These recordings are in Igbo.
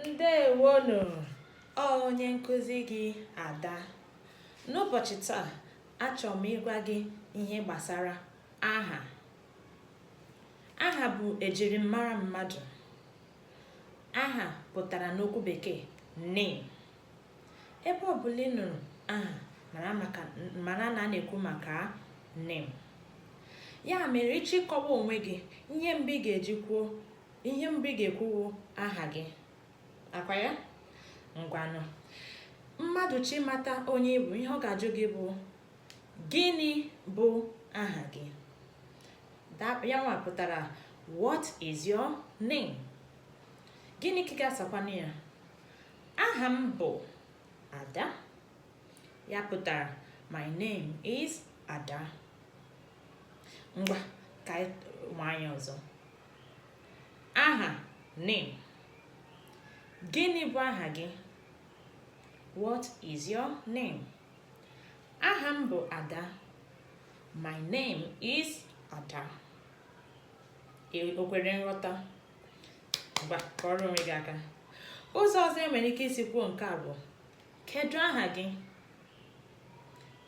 ndewonụ ọ onye nkụzi gị ada n'ụbọchị taa achọrọ m ịgwa gị ihe gbasara aha aha bụ ejirimara mmadụ aha pụtara n'okwu bekee name ebe ọbụla ị nụrụ aha mara na a na-ekwu maka name ya mere ị chọọ ịkọwa onwe gị ihe mbụ ị ga-eji kwuo ihe mbụ ị ga-ekwu wụ aha gị akwa ya ngwanụ mmadụ chọọ ịmata onye ị bụ ihe ọ ga-ajụ gị bụ gịnị bụ aha gị ya nwa pụtara what is your name gịnị ka ị ga-asakwanụ ya aha m bụ ada ya pụtara my name is ada ngwa ka anyị nwaa ya ọzọ aha name gịnị bụ aha gị what is your name aha m bụ ada my name is ada o kwere nghọta ngwa kụọrọ onwe gị aka ụzọ ọzọ enwere ike isi kwuo nke a bụ kedu aha gị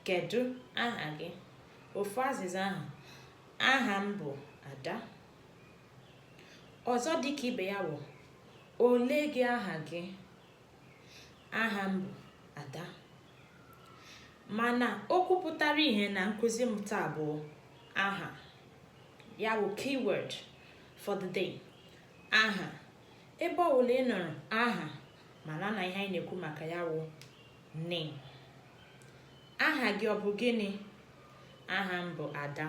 kedu aha gị ofu azịza ahụ aha m bụ ada ọzọ dịka ibe ya wụ olee gị aha gị aha m bụ ada mana okwu pụtara ihe na nkụzi m taa bụ aha ya wụ keyword for the day aha ebe ọbụla ị nụrụ aha mara na ihe anyị na-ekwu maka ya wụ name aha gị ọ bụ gịnị aha m bụ ada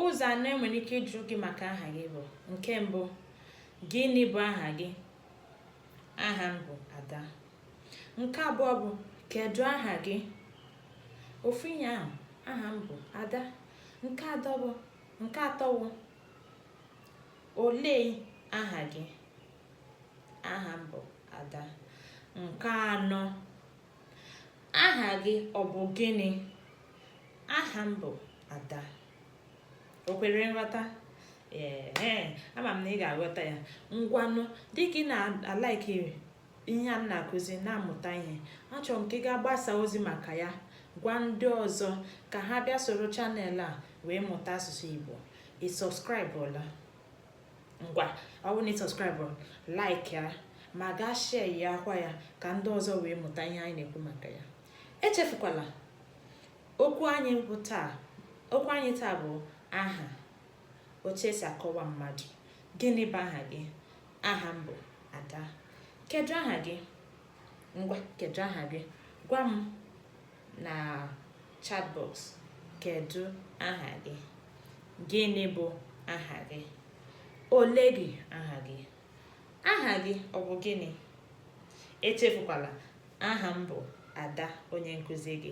ụzọ anọ enwere ike ịjụ gị maka aha gị bụ nke mbụ gịnị bụ aha gị aha m bụ ada nke abụọ bụ kedu aha gị ofu ihe ahụ aha m bụ ada nke atọ bụ nke atọ bụ olee aha gị aha m bụ ada nke anọ aha gị ọ bụ gịnị aha m bụ ada o kwere nghọta ee ama m na ị ga-aghọta ya ngwanụ dịka ị na-alike ihe a m na-akụzi na-amụta ihe achọrọ m ka ị gaa gbasaa ozi maka ya gwa ndị ọzọ ka ha bịa soro channel a wee mụta asụsụ Igbo ị subscribeọla ngwa ọ bụrụ na ị subscribe like ya ma gaa share ya akwa ya ka ndị ọzọ wee mụta ihe anyị na-ekwu maka ya echefukwala okwu anyị taa bụ aha otu esi akọwa mmadụ gịnị bụ aha gị aha m bụ ada kedu aha gị ngwa kedu aha gị gwa m na chatbox kedu aha gị gịnị bụ aha gị ole gị aha gị aha gị ọ bụ gịnị echefukwala aha m bụ ada onye nkụzi gị